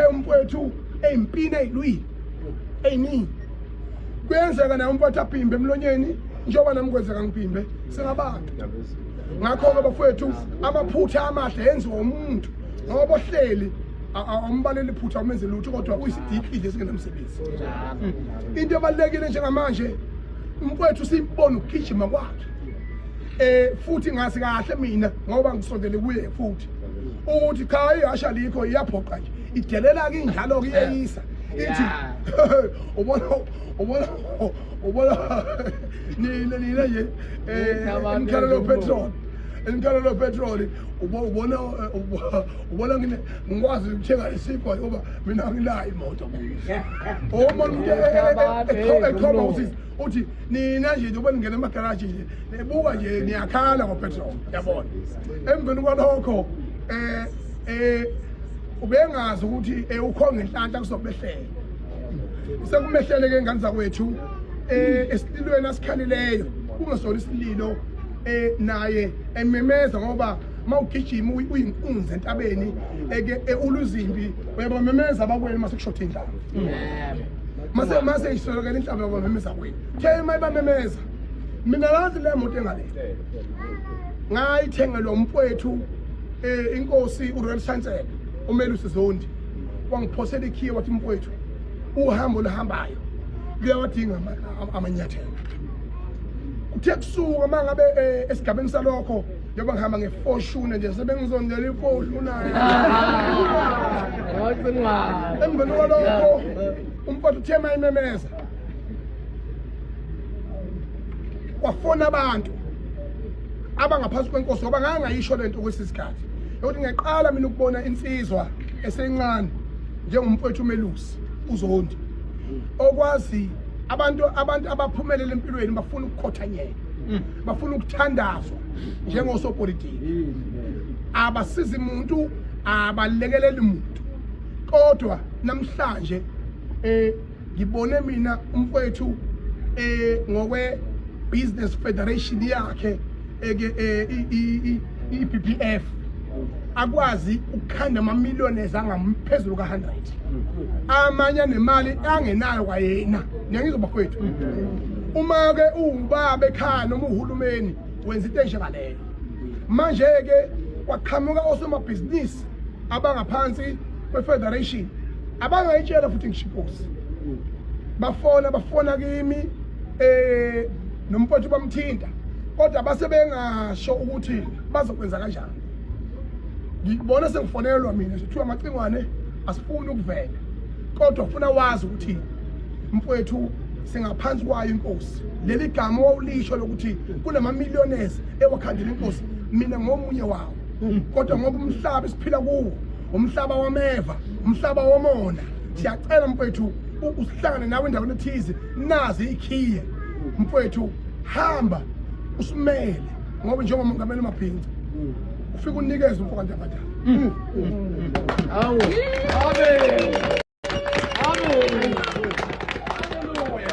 umfowethu eyimpini eyilwile eyiningi kuyenzeka naye umfowethu aphimbe emlonyeni njengoba nami kwenzeka ngiphimbe singabantu ngakho-ke bafowethu amaphutha amahle yenziwa umuntu ngoba ohleli awumbaleli phutha umenze lutho kodwa uyisidikili esingenamsebenzi into ebalulekile njengamanje umfowethu siyibona ukugijima kwakhe eh futhi ngazi kahle mina ngoba ngisondele kuye futhi ukuthi cha ihasha likho iyaphoqa nje idelela ke injalo ke iyeyisa ithi ubona ubona ubona nina nina nje eh umkhalelo petrol umkhalelo petrol ubona ubona ngine ngikwazi ukuthenga isikwa ngoba mina nginayo imoto uma umuntu ekhoma uthi nina nje njengoba ningena emagaraji nje nibuka nje niyakhala ngopetrol yabona emveni kwalokho eh eh ubengazi ukuthi eh, ukhonga inhlanhla kuzobehlela sekumehlele ke ngane zakwethu eh esililweni asikhalileyo kungesona isililo eh naye ememeza ngoba mawugijima uyinkunzi entabeni eke eh, uluzimbi uyabamemeza abakwenu masekushoda indlala mase mase iswelekela inhlamba yabamemeza kwini khe imali bamemeza mina lazi le moto engale ngayithengelwa umfowethu um eh, inkosi uroyal chancellor umelusi zondi wangiphosela ikhiye wathi mfowethu uhambo oluhambayo luyawadinga amanyathelo kuthe kusuka uma ngabe um esigabeni salokho njengoba ngihamba ngefoshune nje sebengizondela ifoshune emveni kwalokho umfowethu uthe uma imemeza kwafona abantu abangaphansi kwenkosi ngoba ngangayisho le nto kwesi sikhathi yokuthi ngiyaqala mina ukubona insizwa esencane njengomfowethu umelusi uzondi okwazi abantu abantu abaphumelele empilweni bafuna ukukhothanyela mm. bafuna ukuthandazwa njengosopolitiki mm. abasizi muntu abalekeleli muntu kodwa namhlanje eh ngibone mina umfowethu eh ngokwe business federation yakhe eke eh, i-BPF akwazi ukukhanda ama-millionaires angamphezulu ka-100 amanye anemali angenayo kwayena ngiyangizoba kwethu uma-ke uwubaba ekhaya noma uhulumeni wenza into enjengaleyo manje-ke kwaqhamuka osomabhizinisi abangaphansi kwe-federation abangayitshela futhi ngishiposi bafona bafona kimi um nomfowethu bamthinta kodwa base bengasho ukuthi bazokwenza kanjani ngibona sengifonelwa mina kuthiwa amacingwane asifuni ukuvela kodwa ufuna wazi ukuthi mfowethu singaphansi kwayo inkosi leli gama wawulisho lokuthi kunamamillionaires ewakhandela inkosi mina ngomunye wawo kodwa ngoba umhlaba esiphila kuwo umhlaba wameva umhlaba womona siyacela mfowethu usihlangane nawe endaweni ethize nazi ikhiye mfowethu hamba usimele ngoba njengomongameli umabhinca ufike unikeze umfo kantabadala awu amen